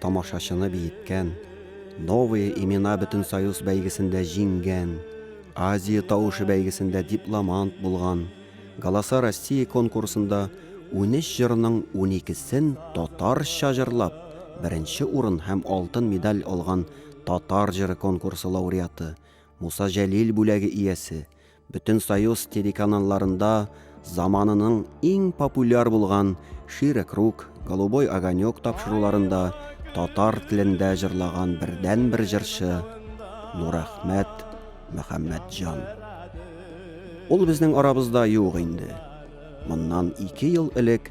тамашачыны биеткән, Новые имена Бөтенсоюз бәйгесендә җиңгән, Азия тавышы бәйгесендә дипломант булган, Голоса России конкурсында унөч җырның уникесен татарча җырлап, беренче урын һәм алтын медаль алган Татар җыры конкурсы лауреаты, Муса Җәлил бүләге иясе, Бөтен Союз телеканалларында заманының иң популяр булган Шире круг, Голубой огонек тапшыруларында татар телендә җырлаган бердән-бер җырчы Нурәхмәт Мөхәммәтҗан. Ул безнең арабызда юк инде. Моннан ике ел элек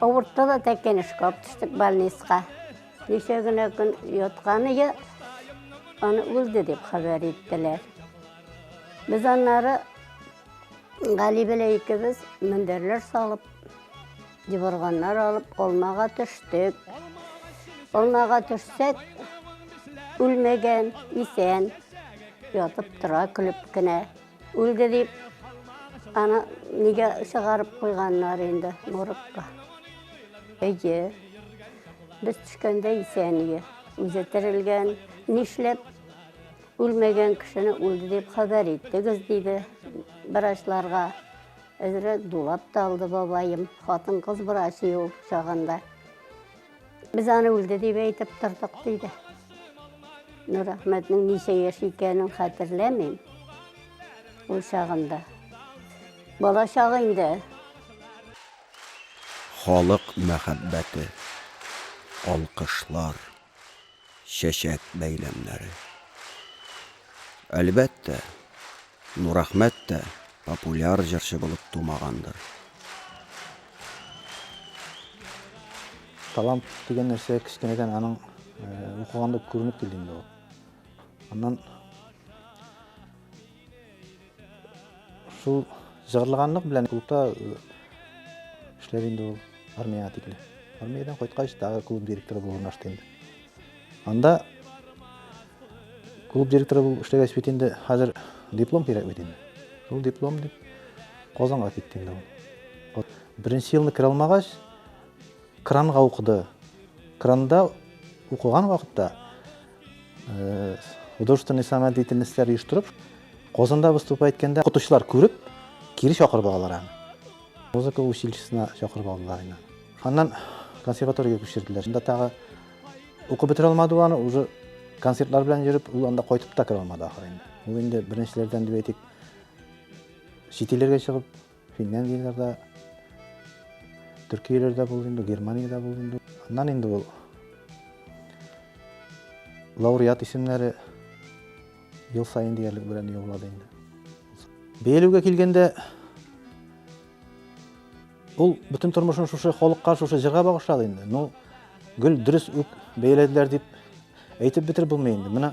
Авыртты да тәкенешкә алып төштек больницага. Ничә генә көн ятканы я аны үлде дип хәбәр иттеләр. Без аннары Гали белән икебез мендәрләр салып, диварганнар алып, алмага төштек. Алмага төшсәк, үлмәгән, исән, ятып тора, көлеп кенә. Үлде дип, аны нигә чыгарып куйганнар инде моргка? Әйе, без төшкәндә исәние, үзе терелгән. Нишләп үлмәгән кешене үлде дип хәбәр иттегез, диде врачларга. Әзрәк дулап та алды бабаем, хатын-кыз врач ул чагында. Без аны үлде дип әйтеп тордык, диде. Нурәхмәтнең ничә яшь икәнен хәтерләмим. Ул чагында. Бала чагы инде. Халык мәхәббәте, алкышлар. чәчәк бәйләмнәре. Әлбәттә, Нурәхмәт тә популяр җырчы булып тумагандыр. Талант дигән нәрсә кечкенәдән аның укыганда күренеп килде инде ул. Аннан Шул җырлыганлык белән клубта эшләр инде ул армияга тикле. Армиядән кайткач, тагы клуб директоры булып урнашты инде. Анда клуб директоры булып эшләгәч бит инде хәзер диплом кирәк бит инде. Шул диплом дип Казанга китте инде ул. Беренче елны керә алмагач, кранга укыды. Кранда укыган вакытта э, художественный самодеятельностьләр оештырып, Казанда выступа иткәндә укытучылар күреп, кире чакырып алалар аны. Музыка училищесына чакырып алдылар аны. Аннан консерваториягә күчерделәр. Шунда тагы укып бетерә алмады ул аны, уже концертлар белән йөреп, ул анда кайтып та керә алмады ахыры инде. Ул инде беренчеләрдән дип әйтик, чит илләргә чыгып Финляндияләрдә, Төркияләрдә булды инде, Германиядә булды инде. Аннан инде ул лауреат исемнәре ел сайын диярлек белән юллады инде. Бәялүгә килгәндә, ул бөтен тормышын шушы халыкка, шушы җырга багышлады инде. Ну, гел дөрес үк бәяләделәр дип әйтеп бетереп булмый инде. Менә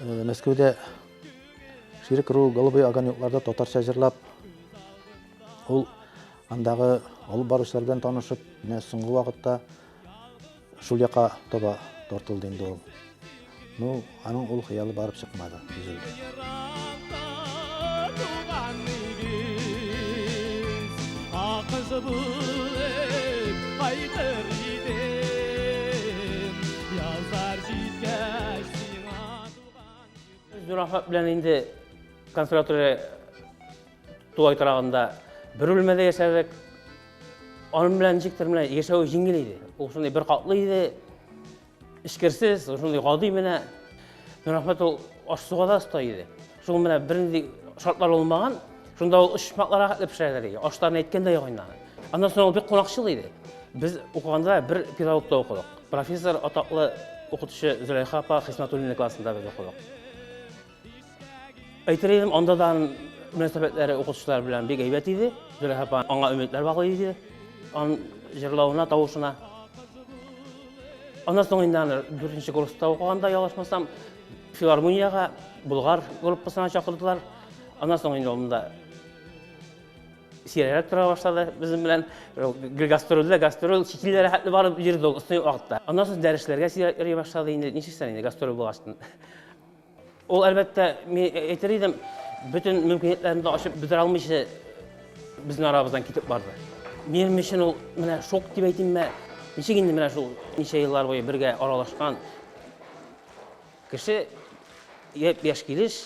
Э, Мәскәүдә Ширик Ру Голубые огонекларда татарча җырлап, ул андагы алып баручылар белән танышып, менә соңгы вакытта шул яка таба тартылды инде ул. Ну, аның ул хыялы барып чыкмады. Нурахмат белән инде консерватория тулай торагында бер бүлмәдә яшәдек. Аның белән ничектер менә яшәү җиңел иде. Ул шундый бер катлы иде. Эчкерсез, шундый гади менә Нурахмәт ул аш-суга да оста иде. Шул менә бернинди шартлар булмаган, шунда ул очмаклар рәхәтле пешерәләр иде. Ашларны әйткәндә ягыннан. Аннан соң ул бик кунакчыл иде. Без укыганда бер педагогта укыдык. Профессор атаклы укытучы Зөләйха апа Хисмәтуллина классында без укыдык. Әйтер идем, анда да мөнәсәбәтләре укытучылар белән бик әйбәт иде. Зөләйха апа аңа өметләр баглый иде. Аның җырлавына, тавышына. Аннан соң инде аны дүртенче курста укыганда ялгышмасам, филармониягә Болгар группасына чакырдылар. Аннан соң инде ул сирәгрәк тора башлады безнең белән э, гастрольдә гастроль чит илләргә хәтле барып йөрде ул ысный вакытта аннан соң дәресләргә сирәк йөри башлады инде нишлисең инде гастроль булгач Ул, әлбәттә, мин әйтер идем, бөтен мөмкинлекләрен дә ачып бетерә алмыйча безнең арабыздан китеп барды. Минем өчен ул менә шок дип әйтимме, ничек инде менә шул ничә еллар буе бергә аралашкан кеше япь-яшь килеш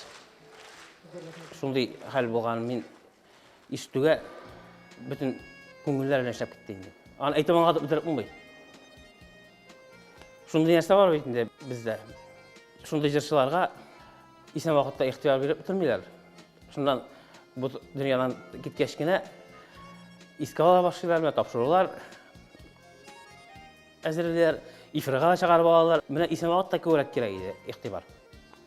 шундый хәл булганын мин Истүгә бөтен күңелләр белән эшләп китте инде. Аны әйтеп аңлатып бетереп булмый. Шундый нәрсә бар бит инде бездә. Шундый җырчыларга исән вакытта ихтыяр биреп бетермиләр. Шуннан бу дөньядан киткәч кенә искә ала башлыйлар, менә тапшырулар әзерлиләр, эфирга чыгарып алалар. Менә исән вакытта күбрәк кирәк иде игътибар.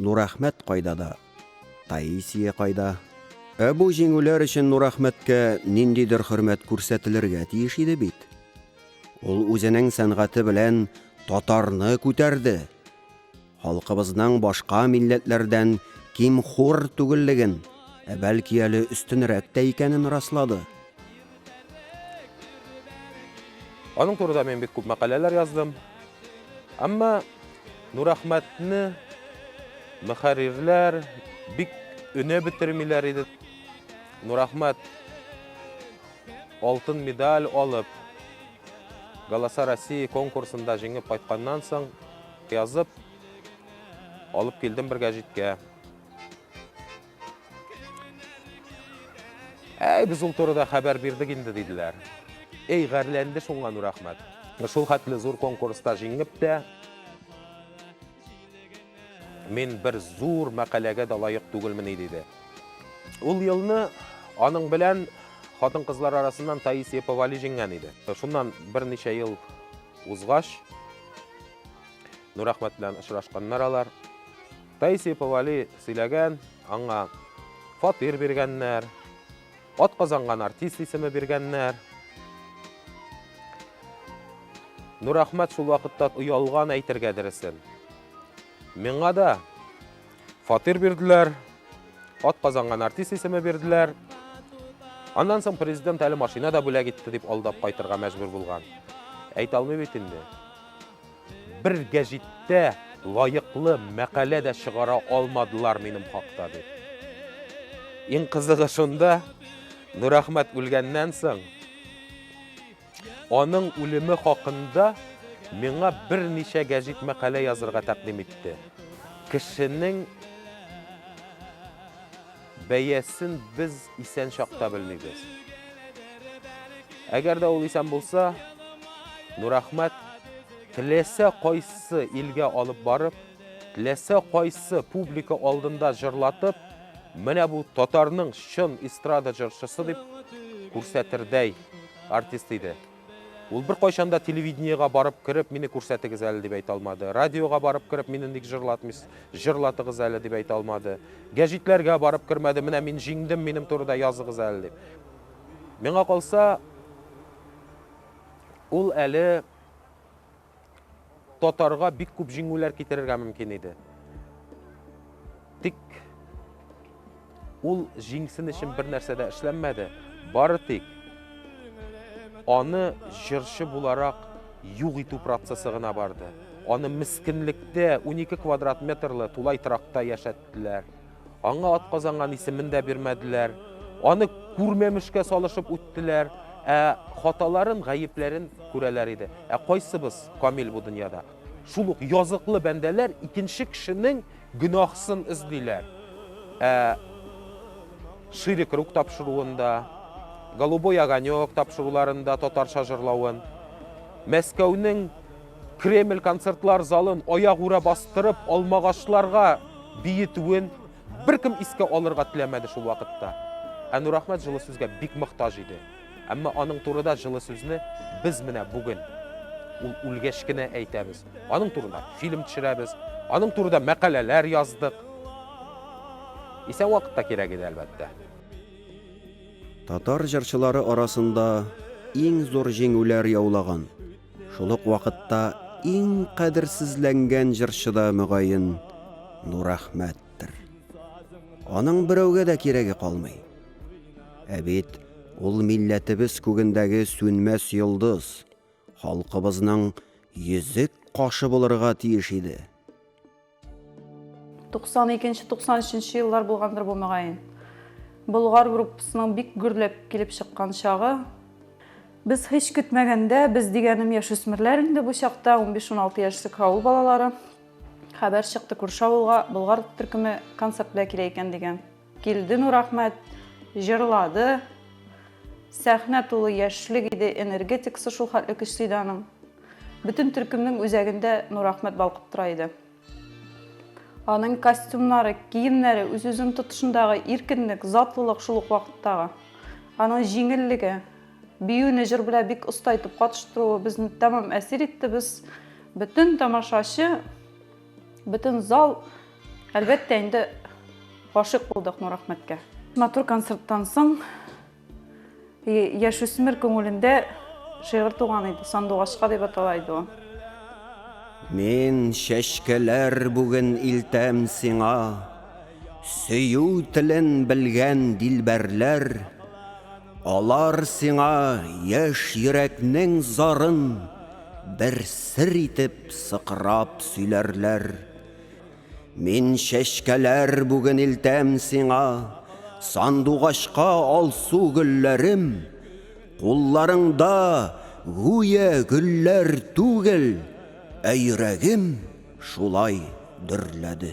Нурәхмәт кайда да, Таисия кайда? Ә бу җиңүләр өчен Нурәхмәткә ниндидер хөрмәт күрсәтелергә тиеш иде бит. Ул үзенең сәнгате белән татарны күтәрде. Халкыбызның башка милләтләрдән ким-хур түгеллеген, ә бәлки әле өстенрәк тә икәнен раслады. Аның турыда мин бик күп мәкаләләр яздым. Әмма Нурәхмәтне мөхәррирләр бик өнә бетермиләр иде. Нурәхмәт алтын медаль алып, Галаса России конкурсында җиңеп кайтканнан соң язып алып килдем бер гәҗиткә. Әй, без ул турыда хәбәр бирдек инде, диделәр. Әй, гарләнде шуңа Нур Әхмәт. Шул хәтле зур конкурста җиңеп тә, мин бер зур мәкаләгә дә лаек түгелмени, диде. Ул елны аның белән хатын-кызлар арасыннан Таисия Повали җиңгән иде. Шуннан берничә ел узгач, Нурахмәт белән очрашканнар алар. Таисия Повали сөйләгән, аңа фатир биргәннәр, атказанган артист исеме биргәннәр. Нурахмәт шул вакытта оялган әйтергә дөресен. Миңа да фатир бирделәр, ат казанган артист исеме бирделәр. Аннан соң президент әле машина да бүләк итте дип алдап кайтырга мәҗбүр булган. Әйтә алмый бит инде. Бер гәҗиттә лаеклы мәкалә дә чыгара алмадылар минем хакта дип. Иң кызыгы шунда, Нурәхмәт үлгәннән соң, аның үлеме хакында миңа берничә гәҗит мәкалә язырга тәкъдим итте. Кешенең Бәясен без исән чакта белмибез. Әгәр дә ул исән булса, Нурәхмәт теләсә кайсы илгә алып барып, теләсә кайсы публика алдында җырлатып, менә бу татарның чын эстрада җырчысы дип күрсәтердәй артист иде. Ул беркайчан да телевидениегә барып кереп, мине күрсәтегез әле дип әйтә алмады. Радиога барып кереп, мине ник җырлатмыйсыз, җырлатыгыз әле дип әйтә алмады. Гәҗитләргә барып кермәде, менә мин җиңдем, минем турыда языгыз әле дип. Миңа калса, ул әле татарга бик күп җиңүләр китерергә мөмкин иде. Тик ул җиңсен өчен бер нәрсә дә эшләнмәде. Бары тик аны җырчы буларак юк итү процессы гына барды. Аны мискинлектә 12 квадрат метрлы тулай тракта яшәттеләр. Аңа атказанган исемен дә бирмәделәр. Аны күрмәмешкә салышып үттеләр. Ә хаталарын, гаепләрен күрәләр иде. Ә кайсыбыз камил бу дөньяда? Шул ук языклы бәндәләр икенче кешенең гөнаһсын эзлиләр. Ә Ширик рук тапшыруын да, Голубой огонек тапшыруларын да татарча җырлавын, Мәскәүнең Кремль концертлар залын аягүрә бастырып алмагачларга биетүен беркем искә алырга теләмәде шул вакытта. Ә Нурахмәт җылы сүзгә бик мохтаҗ иде. Әмма аның турыда җылы сүзне без менә бүген ул үлгәч кенә әйтәбез. Аның турында фильм төшерәбез, аның турыда мәкаләләр яздык. Исән вакытта кирәк иде, әлбәттә. Татар җырчылары арасында иң зур җиңүләр яулаган Шул ук вакытта иң кадерсезләнгән җырчы да, мөгаен, Нурәхмәттер. Аның берәүгә дә кирәге калмый. Ә бит ул милләтебез күгендәге сүнмәс йолдыз, халкыбызның йөзек кашы булырга тиеш иде. 92-93 еллар булгандыр бу мөгаен. Болгар группасының бик гөрләп килеп чыккан чагы. Без һич көтмәгәндә, без дигәнем яшүсмерләр инде бу чакта, 15-16 яшьлек авыл балалары, хәбәр чыкты күрше авылга Болгар төркеме концерт белән килә икән дигән. Килде Нурахмәт, җырлады. Сәхнә тулы яшьлек иде, энергетикасы шул хәтле көчле иде аның. Бөтен төркемнең үзәгендә Нурахмәт балкып тора иде. Аның костюмнары, киемнәре, үз-үзен тотышындагы иркенлек, затлылык шул ук вакыттагы. Аның җиңеллеге, биюне җыр белән бик оста итеп катыштыруы безне тәмам әсир итте. Без бөтен тамашачы Бөтен зал, әлбәттә, инде гашык булдык Нурәхмәткә. Матур концерттан соң яшүсмер күңелендә шигырь туган иде. Сандугачка дип атала иде ул. Мин чәчкәләр бүген илтәм сиңа, сөю телен белгән дилбәрләр. Алар сиңа яшь йөрәкнең зарын бер сер итеп сыкрап сөйләрләр. Мин чәчкәләр бүген илтәм сиңа, сандугачка алсу гөлләрем, кулларыңда гүя гөлләр түгел, ә йөрәгем шулай дөрләде.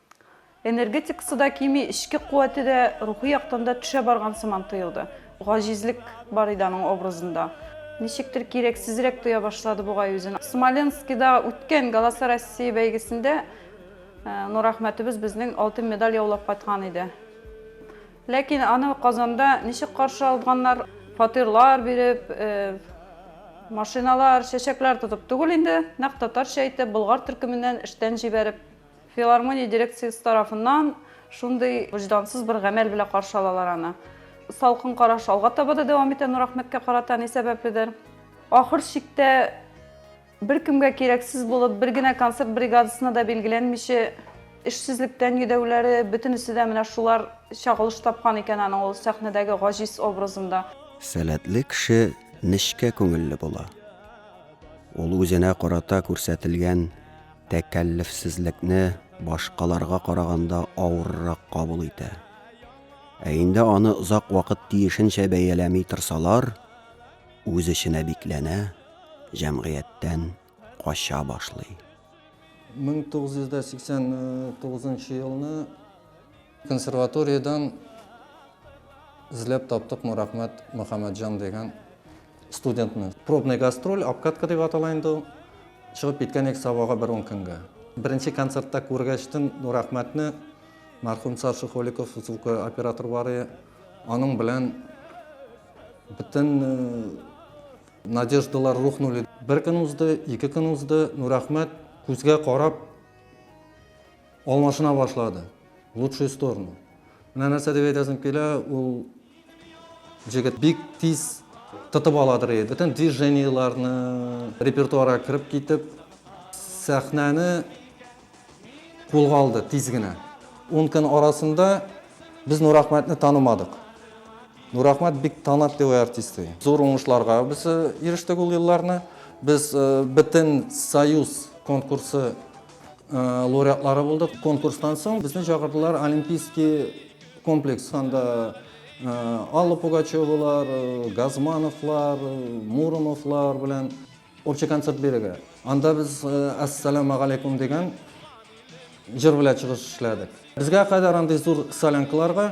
Энергетикасы да кими, эчке куәте дә, рухи яктан да төшә барган сыман тоелды. Гаҗизлек бар иде аның образында. Ничектер кирәксезрәк тоя башлады бугай үзен. Смоленскида үткән Галаса-Россия бәйгесендә Нурәхмәтебез безнең алтын медаль яулап кайткан иде. Ләкин аны Казанда ничек каршы алганнар, фатирлар биреп, машиналар, чәчәкләр тотып түгел инде, нәкъ татарча әйтеп, Болгар төркеменнән эштән җибәреп. Филармония дирекциясе тарафыннан шундый вөҗдансыз бер гамәл белән каршы алалар аны. Салкын караш алга таба да дәвам итә Нурахмәткә карата ни сәбәпледер. Ахыр чиктә беркемгә кирәксез булып, бер генә концерт бригадасына да билгеләнмичә, эшсезлектән йөдәүләре, бөтенесе дә менә шулар чагылыш тапкан икән аның ул сәхнәдәге гаҗиз образында. Сәләтле кеше нечкә күңелле була. Ул үзенә карата күрсәтелгән тәкәллефсезлекне башкаларга караганда авыррак кабул итә. Ә инде аны озак вакыт тиешенчә бәяләми торсалар, үз эченә бикләнә, җәмгыятьтән кача башлый. 1989 елны консерваториядән эзләп таптыкмы, рәхмәт, Мөхәммәтҗан дигән. студентны. Пробный гастроль, обкатка дип атала инде ул. Чыгып киткән идек Сабага бер ун көнгә. Беренче концертта күргәчтен рәхмәтне мәрхүм Саша Холиков, звукооператор бар иде. Аның белән бөтен э, надеждалар рухнули. Бер көн узды, ике көн узды, Нурәхмәт күзгә карап алмашына башлады. В лучшую сторону. Менә нәрсә дип әйтәсем килә, ул Җегет бик тиз тотып ала торгый, бөтен движениеләрне, репертуарга кереп китеп, сәхнәне кулга алды тиз генә. Ун көн арасында без Нурахмәтне танымадык. Нурахмәт бик талантливый артист. Зур уңышларга без ирештек ул елларны. Без бөтен союз конкурсы лауреатлары булдык. Конкурстан соң безне чакырдылар Олимпийский комплекс. Анда Алла Пугачевалар, Газмановлар, Муромовлар белән общий концерт бирергә. Анда без Ассаламу алейкум дигән җыр белән чыгыш эшләдек. Безгә кадәр андый зур солянкаларга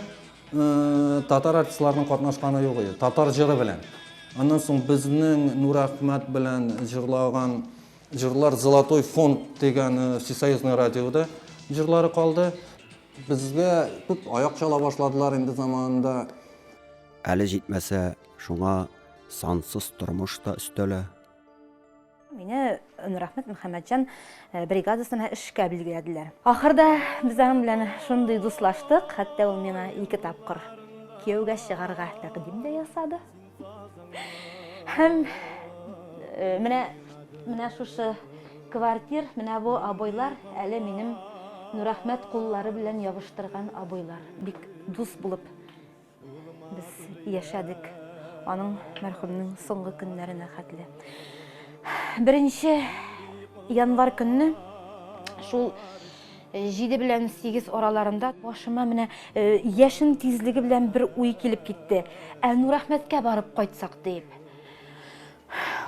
татар артистларының катнашканы юк иде. Татар җыры белән. Аннан соң безнең Нур Әхмәт белән җырлаган Җырлар Золотой фонд дигән э, всесоюзный радиода җырлары калды. Безгә күп аяк чала башладылар инде заманында. Әле җитмәсә, шуңа сансыз тормыш та өстәлә. Мине Нурахмет Мөхәммәтҗан э, бригадасына эшкә билгеләделәр. Ахырда без аның белән шундый дуслаштык, хәтта ул миңа ике тапкыр кияүгә чыгарга тәкъдим дә ясады. Һәм э, менә менә шушы квартир, менә бу абыйлар әле минем Нурахмәт куллары белән ябыштырган абыйлар. Бик дус булып без яшәдек. Аның мәрхүмнең соңгы көннәренә хәтле. Беренче январ көнне шул Җиде белән сигез араларында башыма менә яшен тизлеге белән бер уй килеп китте. Ә Нурәхмәткә барып кайтсак дип.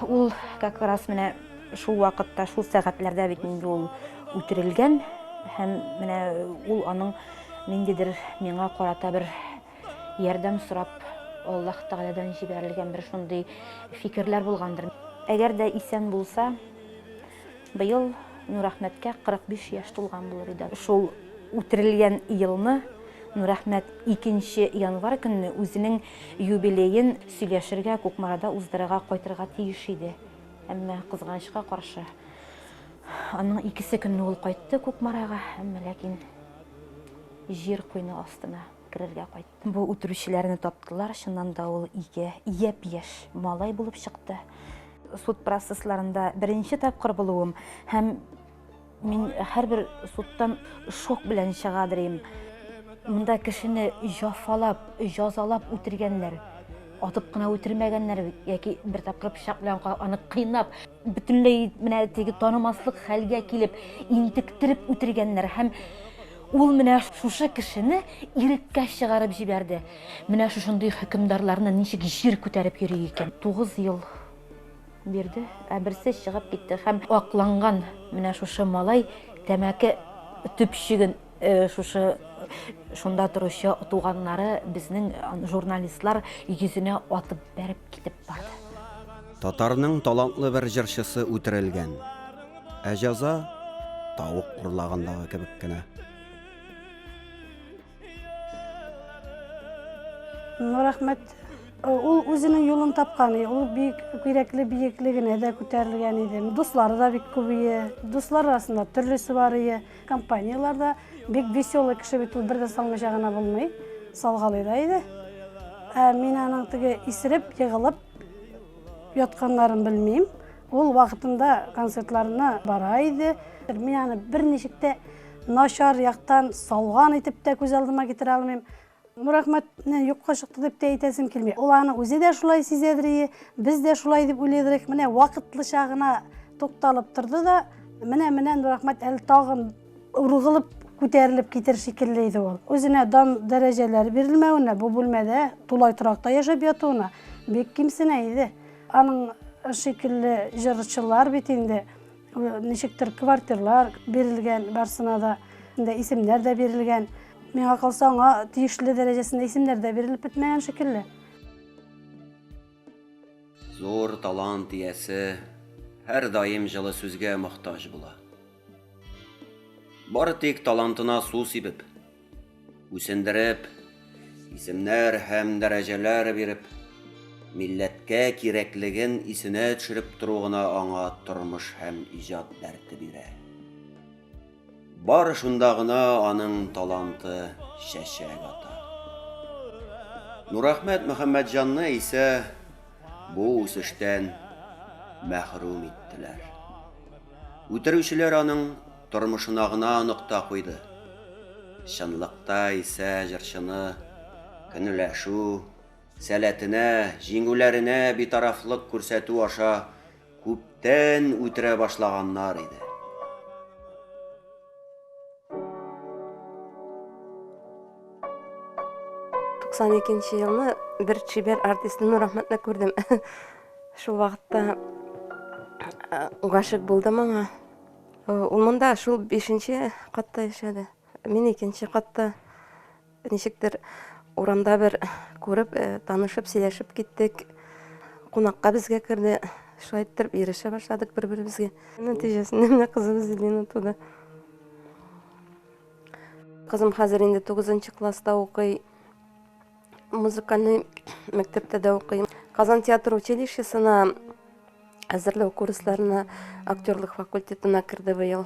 Ул как раз менә шул вакытта, шул сәгатьләрдә бит инде ул үтерелгән һәм менә ул аның ниндидер миңа карата бер ярдәм сорап Аллаһ Тәгаләдән җибәрелгән бер шундый фикерләр булгандыр. Әгәр дә исән булса, Быел Нурәхмәткә 45 яшь тулган булыр иде. Шул үтерелгән елны Нурәхмәт икенче январь көнне үзенең юбилеен сөйләшергә, Кукмарада уздырырга кайтырга тиеш иде. Әмма, кызганычка каршы, аның икесе көнне ул кайтты Кукмарага, әмма ләкин җир куйны астына керергә кайтты. Бу үтерүчеләрне таптылар, чыннан да ул ике япь-яшь малай булып чыкты. Суд процессларында беренче тапкыр булуым һәм мин һәрбер судтан шок белән чыга дирим. Монда кешене җафалап, җазалап үтергәннәр. Атып кына үтермәгәннәр бит, яки бер тапкыр пычак белән аны кыйнап, бөтенләй менә теге танымаслык хәлгә килеп, интектереп үтергәннәр һәм Ул менә шушы кешене иреккә чыгарып җибәрде. Менә шушындый хөкемдарларны ничек җир күтәреп йөри икән. Тугыз ел бирде, ә берсе чыгып китте һәм акланган менә шушы малай тәмәке төпчеген шушы шунда торучы туганнары, безнең журналистлар йөзенә атып бәреп китеп барды. Татарның талантлы бер җырчысы үтерелгән. Ә җәза тавык урлагандагы кебек кенә. Ну, рәхмәт. Ул үзенең юлын тапкан, ул бик кирәкле биеклегенә дә күтәрелгән иде. Дуслары да бик күбие, дуслар арасында төрлесе бар ие, компанияләрдә бик веселый кеше бит ул, бердә салмыйча гына булмый, салгалый да иде. Ә мин аның теге исереп, егылып, Ятканнарын белмим. Ул вакытында концертларына бара иде. Мин аны берничек тә начар яктан салган итеп тә күз алдыма китерә алмыйм. Нурахмәтне юкка чыкты дип тә әйтәсем килми. Ул аны үзе дә шулай сизәдер, без дә шулай дип уйлыйдыр. Менә вакытлыча гына тукталып торды да, менә-менә Нурахмәт әле тагын Ургылып күтәрелеп китер шикелле иде ул. Үзенә дан дәрәҗәләр бирелмәвенә, бу бүлмәдә тулай торакта яшәп ятуына бик кимсенә иде. Аның шикелле җырчылар бит инде ничектер квартирлар бирелгән барсына да, инде исемнәр дә бирелгән. Миңа калса, аңа тиешле дәрәҗәсендә исемнәр дә бирелеп бетмәгән шикелле. Зур талант иясе һәрдаим җылы сүзгә мохтаҗ була. Бары тик талантына су сибеп, үсендереп, исемнәр һәм дәрәҗәләр биреп, милләткә кирәклеген исенә төшереп тору гына аңа тормыш һәм иҗат дәрте бирә. Бары шунда гына аның таланты чәчәк ата. Нурахмәт Мөхәммәтҗанны исә бу үсештән мәхрүм иттеләр. Үтерүчеләр аның тормышына гына нокта куйды. Чынлыкта исә җырчыны көнләшү сәләтенә, җиңүләренә битарафлык күрсәтү аша күптән үтерә башлаганнар иде. Туксан икенче елны бер чибәр артист Нур Ахмәтне күрдем. Шул вакытта гашык булды моңа. Ул монда шул бишенче катта яшәде. Мин икенче катта. Ничектер урамда бер күреп, э, танышып, сөйләшеп киттек. Кунакка безгә керде. Шулай иттереп ирешә башладык бер-беребезгә. Нәтиҗәсендә менә кызыбыз Лина туды. Кызым хәзер инде 9 класста укый. Музыкальный мәктәптә дә укый. Казан театр училищесына әзерләү курсларына актерлык факультетына керде быел.